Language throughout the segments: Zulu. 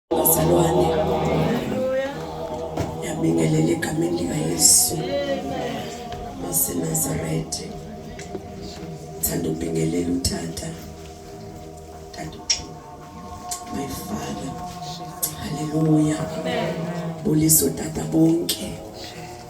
Bazalwane, yabingelela egameni likaYesu waseNazaretha. Thanda ubingelela utata tata my father. Haleluya. Bulisa utata bonke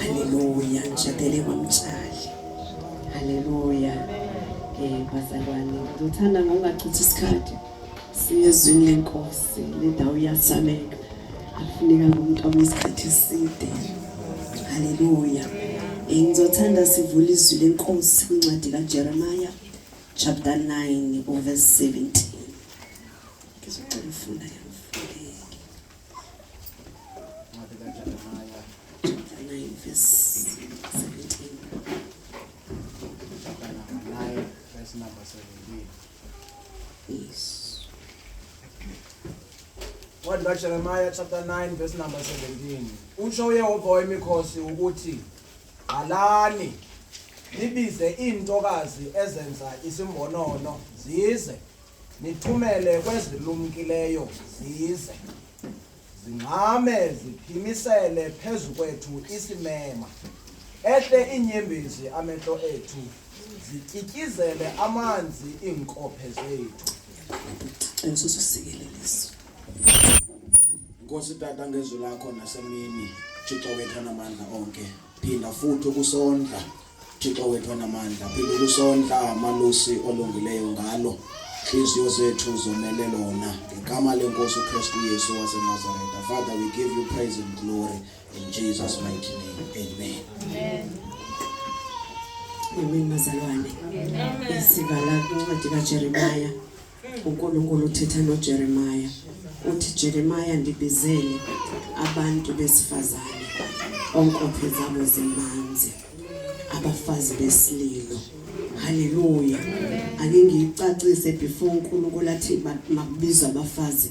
Haleluya, ngishadele kwamtshali. Haleluya. Eh bazalwane, ngithanda ngokungachithi isikhathi. Siyezwini lenkosi, le ndawo iyasameka. Akufuneka umuntu ome isikhathi eside. Haleluya. Eh ngizothanda sivule izwi lenkosi incwadi kaJeremiah chapter 9 verse 17. Ngizocela ufuna yami. incwadi kaJeremiya chapter 9 verse number 17 usho uYehova wemikhosi ukuthi qalani nibize iintokazi ezenza isimbonono zize Nithumele kwezilumkileyo zize zingxame ziphimisele phezu kwethu isimema ehle inyembezi amehlo ethu zityityizele amanzi iinkophe zethu ensususikeleliso Nkosi tata ngezwi lakho nasemini Thixo wethu namandla onke phinda futhi ukusondla Thixo wethu anamandla phinde kusondla malusi olungileyo ngalo inhliziyo zethu zomele lona ngegama lenkosi uKristu Yesu waseNazaretha Father we give you praise and glory in Jesus mighty name amen amen Amen mazalwane. Amen. Sivala incwadi kaJeremiah uNkulunkulu uthetha noJeremiah uthi Jeremiah ndibizele abantu besifazane onkophe zabo zimanzi abafazi besililo haleluya ake ngiyicacise before uNkulunkulu athi makubizwa abafazi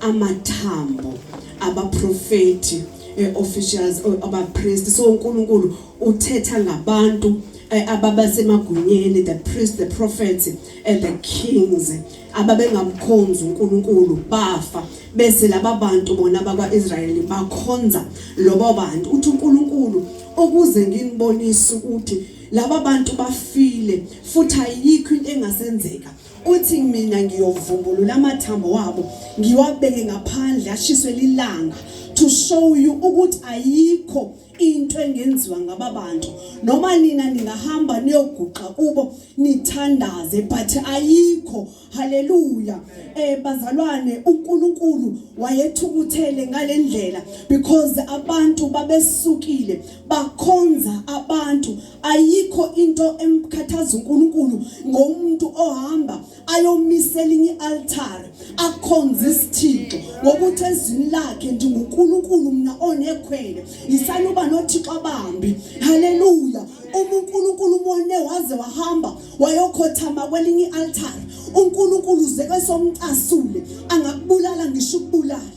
amathambo abaprofeti eh, officials oh, abapriest so uNkulunkulu uthetha ngabantu eh, ababasemagunyeni the priest the prophets and eh, the kings ababengamkhonzi uNkulunkulu bafa bese laba bantu bona bakwaIsrayeli bakhonza lobo bantu uthi uNkulunkulu okuze nginibonise ukuthi laba bantu bafile futhi ayikho into engasenzeka uthi mina ngiyovumbulula amathambo wabo ngiwabeke ngaphandle ashiswe lilanga to show you ukuthi ayikho into engenziwa ngaba bantu noma nina ningahamba niyoguqa kubo nithandaze but ayikho haleluya eh bazalwane uNkulunkulu wayethukuthele ngalendlela because abantu babesukile bakhonza abantu ayikho into emkhathaza uNkulunkulu ngomuntu ohamba ayomisela inye altar akhonza isithixo ngokuthi ezwini lakhe ndinguNkulunkulu mina onekhwele yisanuba nothixo abambi haleluya uma uNkulunkulu umone waze wahamba wayokhothama kwelinye ialtar uNkulunkulu uze kwesomcasule angakubulala ngisho ukubulala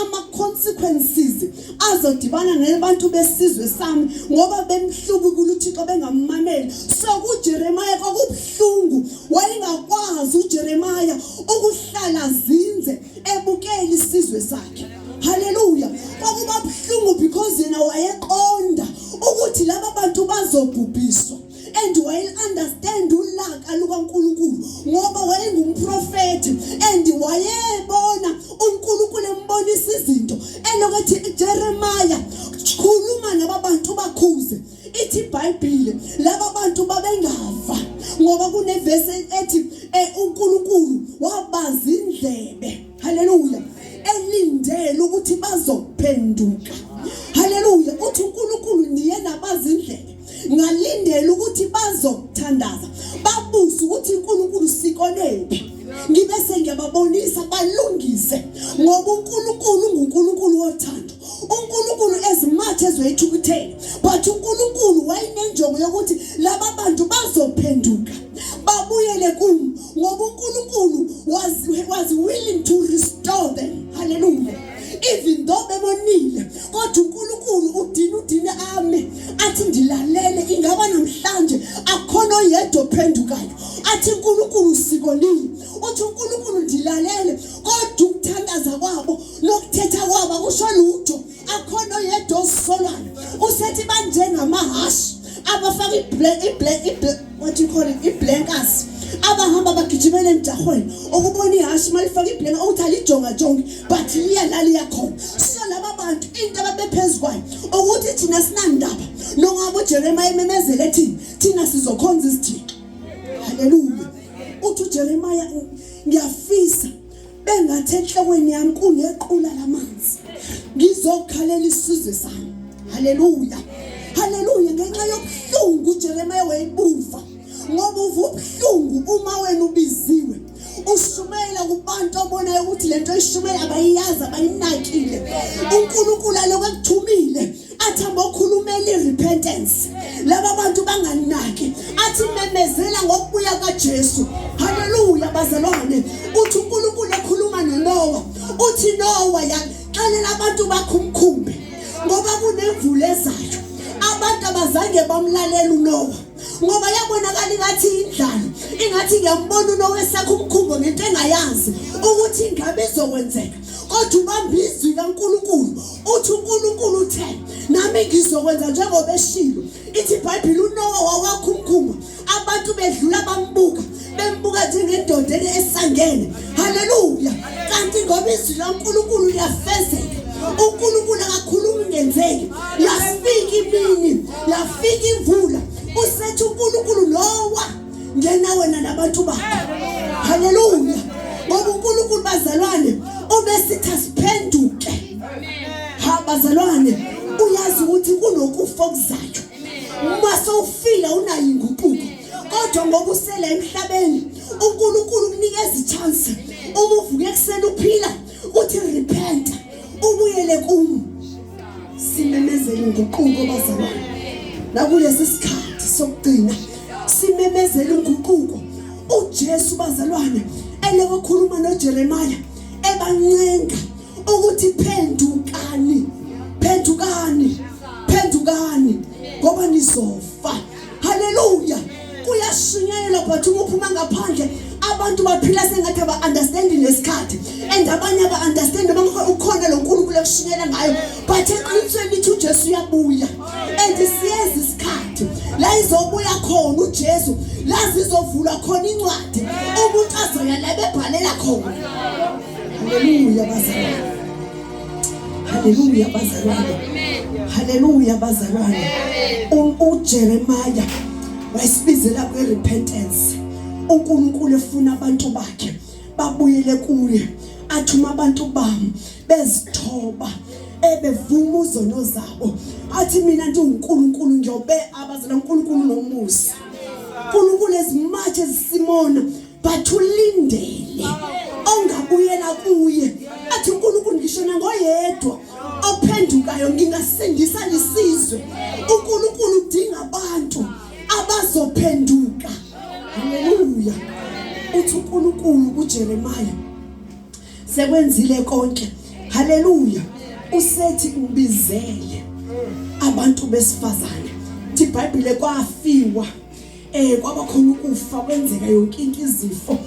ama-consequences azodibana nabantu besizwe sami ngoba bemhlubukula uthixo bengammameli so kujeremaya kwakubuhlungu wayengakwazi ujeremaya ukuhlala zinze ebukela isizwe sakhe haleluya kwakuba buhlungu because yena wayeqonda ukuthi laba bantu bazobhubhiswa and wayeunderstand ulaka lukaNkulunkulu ngoba wayengumprofeti and wayebona uNkulunkulu embonisa izinto elokuthi Jeremiah khuluma laba bantu bakhuze ithi iBhayibhile laba bantu babengava ngoba kunevesi ethi eh, uNkulunkulu wabaza indlebe haleluya elindele ukuthi bazophenduka haleluya uthi uNkulunkulu niye nabazi indlebe ngalindela ukuthi bazokuthandaza babuze ukuthi uNkulunkulu sikolephi ngibe sengiyababonisa balungise ngoba uNkulunkulu nguNkulunkulu wothando uNkulunkulu ezimathe ezoyithukuthela but uNkulunkulu wayinenjongo yokuthi laba bantu bazophenduka babuyele kuMo ngoba uNkulunkulu was was willing to restore them hallelujah even though bebonile kodwa uNkulunkulu udina udine ami athi ndilalele ingaba namhlanje akhona oyedwa ophendukayo athi uNkulunkulu usikolile uthi uNkulunkulu ndilalele kodwa ukuthandaza kwabo nokuthetha kwabo akusho lutho akhona oyedwa osisolayo usethi banjengamahhashi abafaka iblack iblack what you call it iblankers abahamba bagijimela emjahweni ukubona ihhashi uma lifake iblanka ukuthi alijongajongi but liya la liyakhona so laba bantu into ababephezu kwayo ukuthi thina sinandaba nongaba ujeremiya ememezela ethini thina sizokhonza izithixo haleluya uthi ujeremiya ngiyafisa bengathi enhlokweni yami kunequla lamanzi ngizokhalela isizwe sami haleluya haleluya ngenxa yobuhlungu uJeremiya wayebuva ngoba uva ubuhlungu uma wena ubiziwe ushumayela kubantu obonayo ukuthi lento ishumayela abayiyazi abayinakile uNkulunkulu alokho akuthumile athi abokhulumela irepentance laba bantu banganaki athi memezela ngokubuya kaJesu haleluya bazalwane uthi uNkulunkulu ekhuluma noNowa uthi Nowa yaxelela abantu bakho umkhumbi ngoba kunemvula ezayo abantu abazange bamlalela uNowa ngoba yabonakala ingathi indlala ingathi ngiyambona unowesakho umkhumbo ngento engayazi ukuthi ingabe izokwenzeka kodwa ubamba izwi kaNkulunkulu uthi uNkulunkulu uthe nami ngizokwenza njengoba eshilo ithi iBhayibheli uNowa wawakha umkhumbo abantu bedlula bambuka bembuka njengendoda esangene haleluya kanti ngoba izwi lankulunkulu liyafezeka unkulunkulu akakhulumi ngenzeki yafika imini yafika imvula usethi unkulunkulu lowa ngena wena nabantu bakho haleluya ngoba unkulunkulu bazalwane ubesithi asiphenduke ha bazalwane uyazi ukuthi kunokufa okuzayo uma sowufile unayo inguquko kodwa ngoba usele emhlabeni uNkulunkulu kunikeza ichance uma uvuke ekuseni uphila uthi repent ubuyele kumu simemezele inguquko bazalwane nakulesi sikhathi sokugcina simemezele inguquko uJesu bazalwane elekokhuluma noJeremiah ebancenga ukuthi phendukani phendukani phendukani ngoba nizofa haleluya kuyashunyayelwa but uma uphuma ngaphandle abantu baphila sengathi aba-understandi nesikhathi and abanye aba-understandi noma ukhona lo nkulunkulu ekushunyela ngayo but eqinisweni lithi ujesu uyabuya and siyeza isikhathi la izobuya khona ujesu la zizovulwa khona incwadi umuntu azoya la bebhalela khona haleluya bazalwane Haleluya bazalwane. Haleluya bazalwane. UJeremiah wayesibizela kwe repentance. uNkulunkulu efuna abantu bakhe babuyele kuye athi uma abantu bami bezithoba ebevuma uzono zabo athi mina ndiwuNkulunkulu ngiyobe abazela uNkulunkulu nomusa uNkulunkulu ezimathe zisimona but ulindele ongabuyela kuye athi uNkulunkulu ngisho nangoyedwa ophendukayo ngingasindisa lisizwe uNkulunkulu udinga abantu abazophenduka haleluya uthi uNkulunkulu kuJeremiah sekwenzile konke haleluya usethi ubizele abantu besifazane iBhayibhile kwafiwa Eh kwaba khona ukufa kwenzeka yonke into izifo.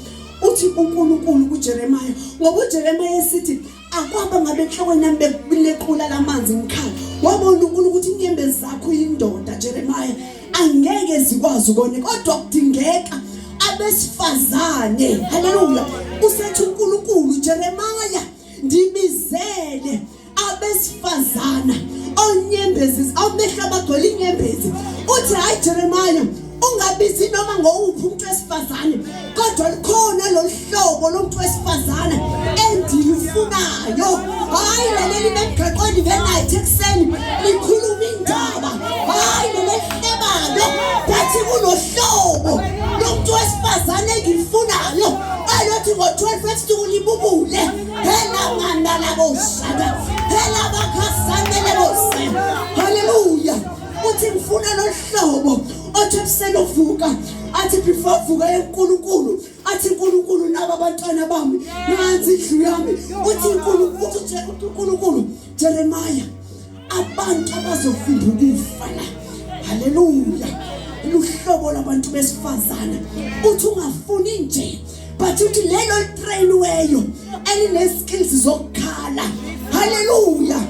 Uthi uNkulunkulu kuJeremiah ngoba uJeremiah esithi akwaba ngabe enhlokweni yami bekulequla lamanzi ngikhala. Wabona uNkulunkulu ukuthi inyembe zakho indoda Jeremiah angeke zikwazi ukone kodwa kudingeka abesifazane haleluya usethi uNkulunkulu Jeremiah ndibizele abesifazana onyembezi amehlo abagcwele inyembezi uthi hayi jeremaya ungabizi noma ngowuphi umuntu wesifazane kodwa likhona lolu hlobo lomuntu wesifazane endilufunayo hayi laleli bemgaqweni benayithi ekuseni likhuluma indaba hayi lelehlebalo bathi kunohlobo lomuntu wesifazane engilifunayo alothi ngo-12 ebusuku libubule haleluya uthi ngifuna lolu hlobo othi ebuselovuka athi before vuka enkulunkulu athi uNkulunkulu naba abantwana bami nansi indlu yami uthi uNkulunkulu uNkulunkulu Jeremiah abantu abazofunda ukufana haleluya luhlobo labantu besifazana uthi ungafuni nje but uthi lelo litrainiweyo elineskills zokukhala haleluya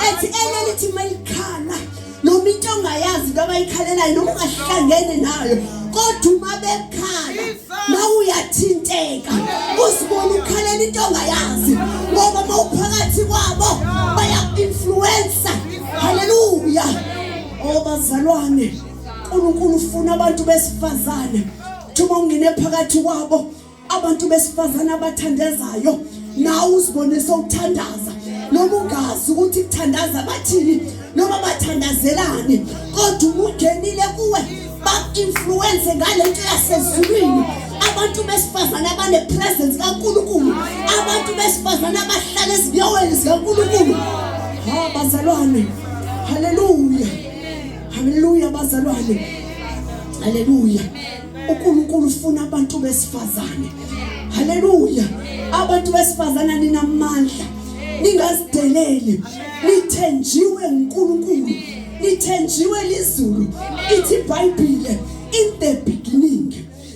ethi elelithi malikhala noma into ongayazi into abayikhalelayo noma ungahlangene nayo kodwa uma bekhala mawuyathinteka uzibona ukhalela into ongayazi ngoba mawuphakathi kwabo bayaku-influensa haleluya obazalwane oh, unkulunkulu ufuna abantu besifazane thuma ungene phakathi kwabo abantu besifazane abathandazayo nawe uzibone sowuthandaza noma ungazi ukuthi kuthandaza bathini noma bathandazelane kodwa umungenile kuwe baku-influwense ngale nto yasezulwini abantu besifazane abanepresence kankulunkulu abantu besifazane abahlala ezinyawweni zikankulunkulu ha bazalwane haleluya haleluya bazalwane haleluya uNkulunkulu ufuna abantu besifazane haleluya abantu besifazane ninamandla ningazideleli nithenjiwe uNkulunkulu nithenjiwe lizulu ithi iBhayibhile in the beginning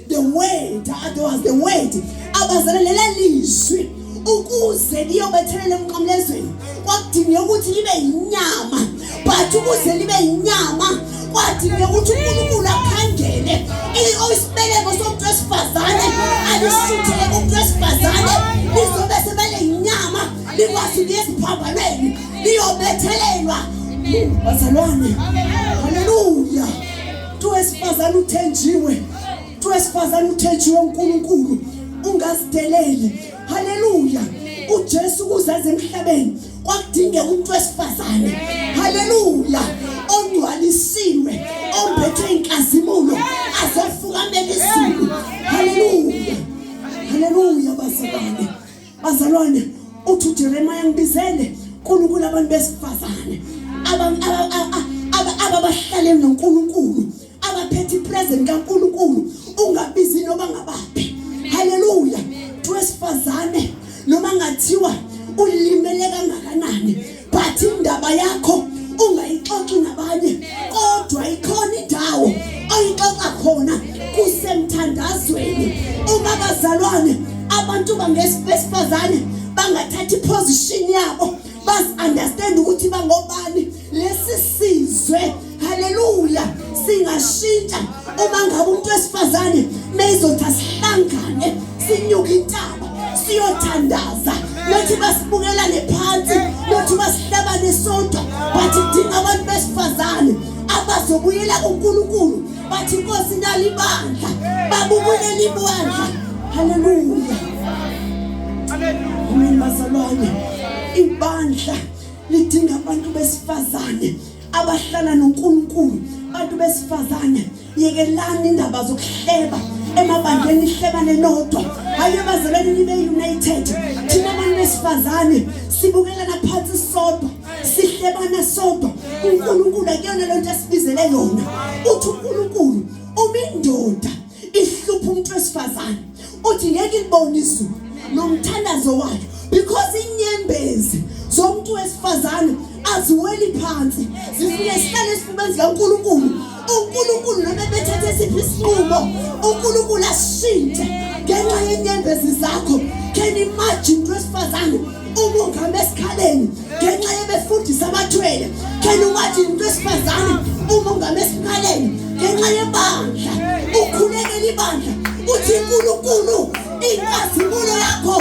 the word otherwise the word abazelele lizwi ukuze liyobethelela emqamlezweni kwakudingeka ukuthi libe yinyama but ukuze libe yinyama kwadingeka ukuthi unkulunkulu akhangele isibeleko somuntu wesifazane alishuthele kumuntu wesifazane lizobe sebele yinyama likwazi ukuya esiphambanweni liyobethelelwa bazalwane haleluya tu wesifazane uthenjiwe Uthi wesifazane uthenjiwe uNkulunkulu ungazideleli. Haleluya. uJesu kuzaze emhlabeni kwakudingeka umuntu wesifazane haleluya ongcwalisiwe ombethe inkazimulo azofukamela izulu haleluya haleluya bazalwane bazalwane uthi uJeremiah ngibizele uNkulunkulu abantu besifazane ababahlale noNkulunkulu abaphethe ipresent kaNkulunkulu ungabizi noma ngabaphi haleluya wesifazane noma ngathiwa ulimele kangakanani but indaba yakho ungayixoxi nabanye kodwa ikhona indawo oyixoxa khona kusemthandazweni uma bazalwane abantu bangesifazane bangathatha iposition yabo bas understand ukuthi bangobani lesi sizwe haleluya singashintsha uma ngabe umuntu wesifazane meyizothi asihlangane sinyuke intaba siyothandaza nothi basibukelane phansi nothi basihlabane sodwa bathi kudinga abantu besifazane abazobuyela kunkulunkulu bathi inkosi nali ibandla babubulele ibandla haleluya ameni bazalwane ibandla lidinga abantu besifazane abahlala noNkulunkulu bantu besifazane yekelani indaba zokuhleba emabandleni ihlebane nodwa hayi ebazalweni nibe united thina abantu besifazane sibukelana phansi sodwa sihlebana sodwa uNkulunkulu akuyona lento esibizele yona uthi uNkulunkulu uma indoda ihlupha umuntu wesifazane uthi ngeke ilibone izulu nomthandazo wayo because inyembezi zomuntu wesifazane aziweli phansi zifike sihlale esifubeni zikaNkulunkulu uNkulunkulu noma bethethe siphi isinqumo uNkulunkulu ashintshe ngenxa yenyembezi zakho can imagine wesifazane ukunga mesikhaleni ngenxa yebefundisa abathwele khena ungathi into esifazane umunga mesikhaleni ngenxa yebandla ukhulekela ibandla uthi uNkulunkulu inkazimulo yakho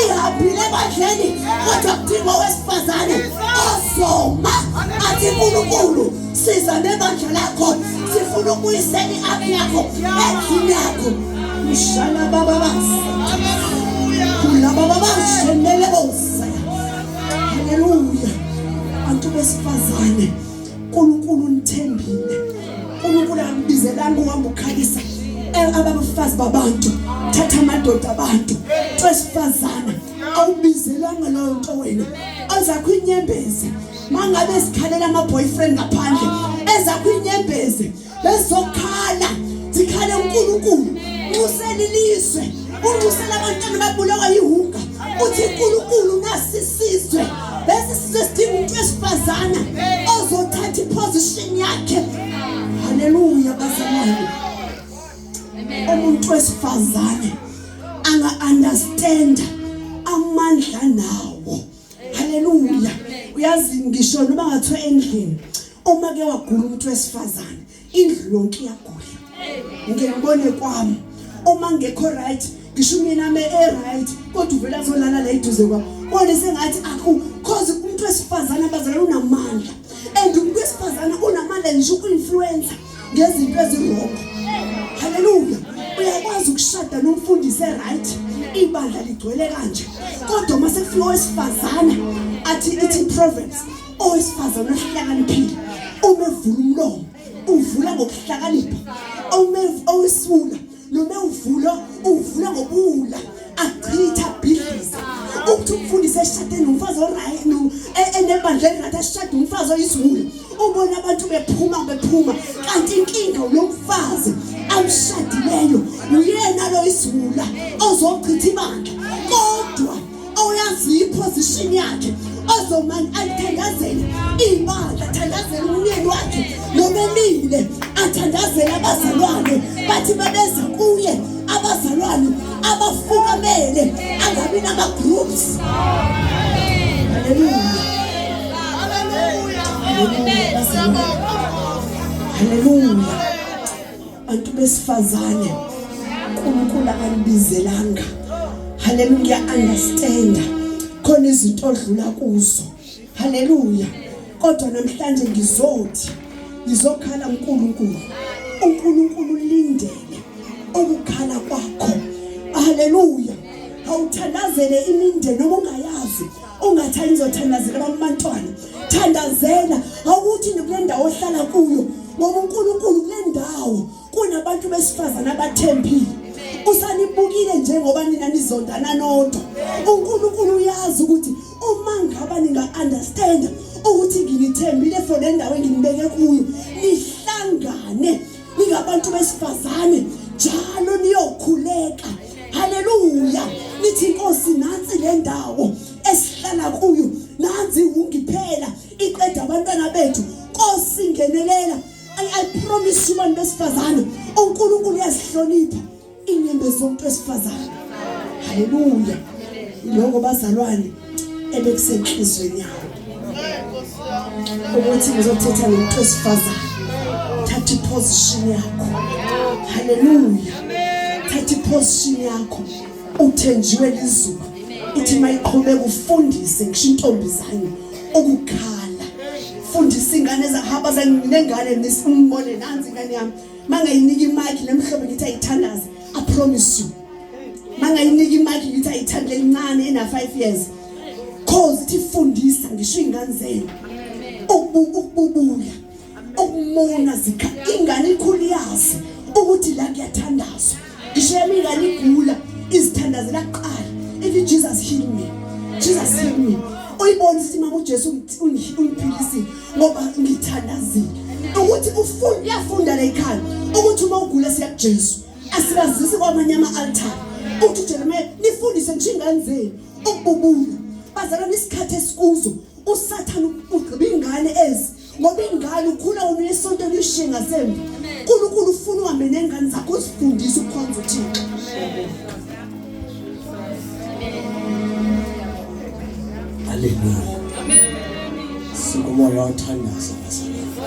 ihambile ebandleni kodwa kudinga owesifazane ozoma athi uNkulunkulu siza nebandla lakho sifuna ukuyisela i-app yakho endlini yakho mshana bababasi kulaba babashenele bosa haleluya bantu besifazane unkulunkulu nithembile unkulunkulu ambizelanga uhamba ukhalisa eh, ababafazi babantu thatha amadoda abantu twesifazana awubizelanga loyo nto wena ozakho inyembezi mangabe sikhalela ama boyfriend ngaphandle eza kwinyembezi bezokhala zikhale uNkulunkulu nxusela ilizwe unxusela abantwana babulawa yihunga uthi uNkulunkulu nasisizwe bese sizwe sidinga umuntu wesifazana ozothatha iposition yakhe haleluya bazalwane umuntu wesifazane anga understand amandla nawo haleluya uyazi ngisho noma ngathiwa endlini uma ke wagula umuntu wesifazane indlu yonke iyagula ngiyabone kwami uma ngekho right ngisho mina me e right kodwa uvela azolala la iduze kwami bone sengathi akho cause umuntu wesifazane abazalana unamandla and umuntu wesifazane unamandla nje uku-influencer ngezinto ezirongo haleluya uyakwazi ukushada nomfundisi eright ibandla ligcwele kanje kodwa uma sekufika owesifazane athi ithi proverbs owesifazane ohlakaniphile uma evula umlomo uvula ngokuhlakanipha uma owesifuna noma ewuvulo uwuvula ngobuwula achitha abhidlize ukuthi umfundisi eshade nomfazi oright no e- enebandla elirathi ashade umfazi oyisiwula ubona abantu bephuma bephuma kanti inkinga ulo mfazi amshadileyo uyena lo isiwula ozochitha ibandla kodwa oyaziyo iposition yakhe ozomane ayithandazele iy'bandla athandazele umyeni wakhe nobemile athandazele abazalwane bathi babeza kuye abazalwane abafukamele angabi nama-groups haleluya haleluya haleluya bantu besifazane uNkulunkulu akanibizelanga haleluya ngiya understand khona izinto odlula kuzo haleluya kodwa namhlanje ngizothi ngizokhala uNkulunkulu uNkulunkulu ulindele ukukhala kwakho haleluya awuthandazele imindeni obungayazi ungathanda uzothandazela bamantwana thandazela awukuthi nikule ndawo ohlala kuyo ngoba uNkulunkulu kule ndawo kunabantu besifazane abathembile usanibukile njengoba nina nizondana nodwa uNkulunkulu uyazi ukuthi uma ngaba ninga understand ukuthi nginithembile for le ndawo enginibeke kuyo nihlangane ningabantu besifazane njalo niyokhuleka haleluya nithi inkosi nansi le ndawo esihlala kuyo nanzi ungiphela iqeda abantwana bethu nkosi ngenelela i promise you bantu besifazane uNkulunkulu uyasihlonipha inyembezi yomuntu wesifazane haleluya iloko bazalwane ebekusenhlizweni yawo ukuthi ngizothetha nomuntu wesifazane thatha iposition yakho haleluya thatha iposition yakho uthenjiwe lizulu ithi mayiqhubeka ufundise ngisho intombi zami ukukhala fundisa ingane zahaba zanginengane nisimbone nanzi ingane yami mangayinika imaki nemhlobo ngithi ayithandaze i promise you mangayinika imaki ngithi ayithande lencane ena 5 years cause ithi fundisa ngisho ingane zenu ukububuya ukumona zikha ingane ikhulu yazi ukuthi la kuyathandazwa Ishemi ngaligula izithandazela kuqala ethi Jesus heal me. Jesus heal me. Uyibona ukuthi mama uJesu ungiphilisile ngoba ngithandazile. Ukuthi ufunda uyafunda la ekhaya ukuthi uma ugula siya kuJesu asibazisi kwamanye ama altar. Uthi Jeremiah nifundise nje ingane zenu ukububula. Bazalwa nesikhathi esikuzo usathana ugqiba ingane ezi ngoba ingane ukhula wona isonto elishiye ngasemva unkulunkulu ufuna uhambe nengane zakho uzifundise ukukhonza uthixo haleluya sikumoya othandaza bazalwane